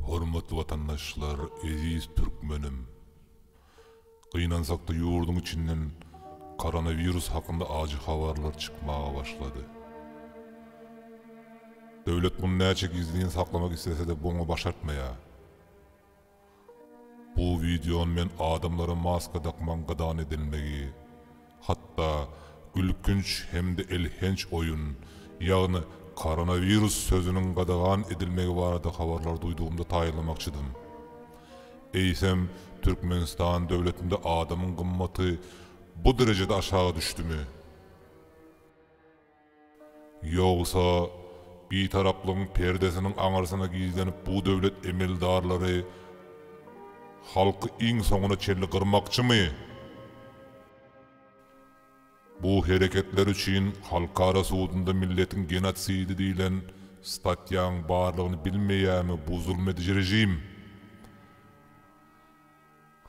Hormatly watandaşlar, eziz türkmenim! Gynansakda ýurduň içinden koronawirus hakynda ajy habarlar çykmaga başlady. Döwlet muny näçe gizlin saklamak islesede boňa başartmaýar. Bu wideony men adamlara maska dakmagyň gadagan edilmegi, hatda gülkünç hem-de elhenç oýun, ýagny koronawirus sözüniň gadagan edilmegi barada habarlary duýdugymda taýynlamakçydym. Eýsem, Türkmenistan döwletinde adamyň gymmaty bu derejede aşaga düşdümi? Ýogsa, Bitaraplygyň perdesiniň aňyrsyna gizlenip bu döwlet emeldarlary halky iň soňuna çenli gyrmakçymy? Bu hereketleri üçin halkara sudunda milletiň genosidi diýlen statýaň barlygyny bilmeýärmi bu zulmediji režim?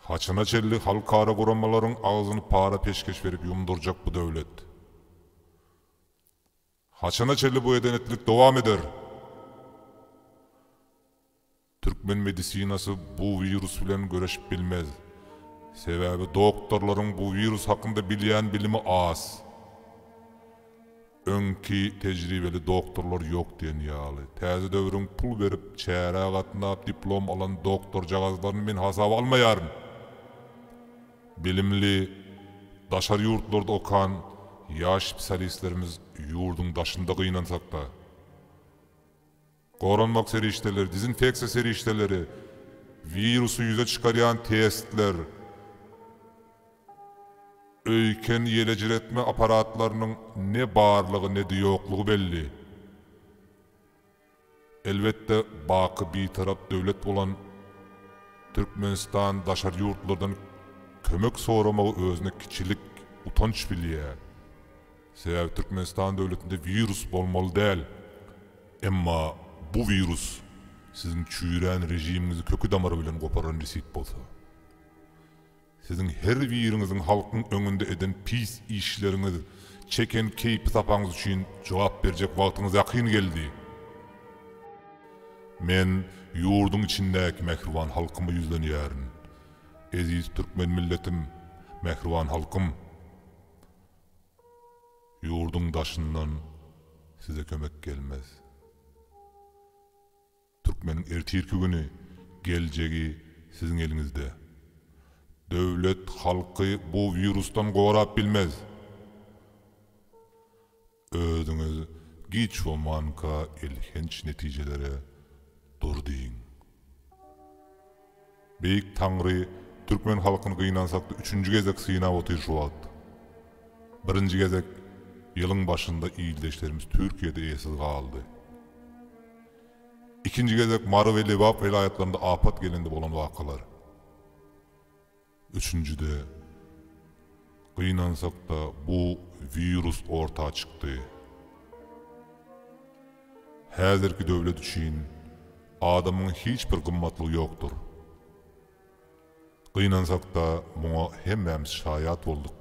Haçana çenli halkara guramalaryň agzyny para peşgeş berip ýumdurjak bu döwlet? Haçana çenli bu eden-etlik dowam eder? Türkmen medisinasy bu wirus bilen göreşip bilmez. Sebäbi doktorlaryň bu wirus hakynda bilýän bilimi az. Öňki tejribeli doktorlar ýok diýen ýaly. Täze döwrüň pul berip, çärä gatnap diplom alan doktorjagazlaryny men hasaba almaýaryn. Bilimli, daşary ýurtlarda okan ýaş spsialistlerimiz ýurduň daşynda gynansak-da. Goranmak serişdeleri, dezinfeksiýa serişdeleri, wirusy ýüze çykarýan testler, öýken ýelejiretme apparatlarynyň ne barlygy, ne-de ýoklugy belli. Elbetde, baky Bitarap döwlet bolan Türkmenistan daşary ýurtlardan kömek soramagy özüne kiçilik, utanç bilýär. Sebäbi Türkmenistan döwletinde wirus bolmaly däl. Emma bu wirus siziň çüýrän režimiňizi köki-damary bilen goparan nesip bolsa. Siziň her biriňiziň halkyň öňünde eden pis işleriňiz, çeken keýpi-sapaňyz üçin jogap berjek wagtyňyz ýakyn geldi. Men ýurduň içindäki mähriban halkyma ýüzlenýärin. Eziz türkmen milletim, mähriban halkym! Ýurduň daşyndan size kömek gelmez. Türkmeniň ertirki güni, geljegi siziň eliňizde. Döwlet halky bu wirusdan gorap bilmez. Özüňiz giç bolmanka elhenç netijelere dur diýiň. Beýik Taňry türkmen halkyny gynansakda üçünji gezek synap otyrşy wagt. Birinji gezek ýylyň başynda ildeşlerimiz Türkiýede eýesiz galdy. Ikinji gezek Mary we Lebap welaýatlarynda apat gelende bolan wakalar. Üçünjide. Gynansakda bu wirus orta çykdy. Häzirki döwlet üçin adamyň hiç bir gymmatlygy ýokdur. Gynansakda muňa hemmämiz şaýat bolduk.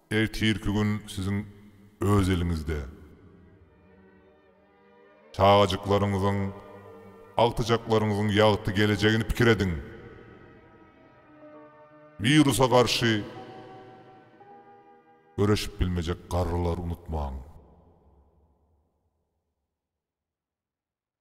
Ertirki gün siziň öz eliňizde. Çagajyklaryňyzyň, agtyjaklaryňyzyň ýagty gelejegini pikir ediň. Wirusa garşy göreşip bilmejek garrylary unutmaň.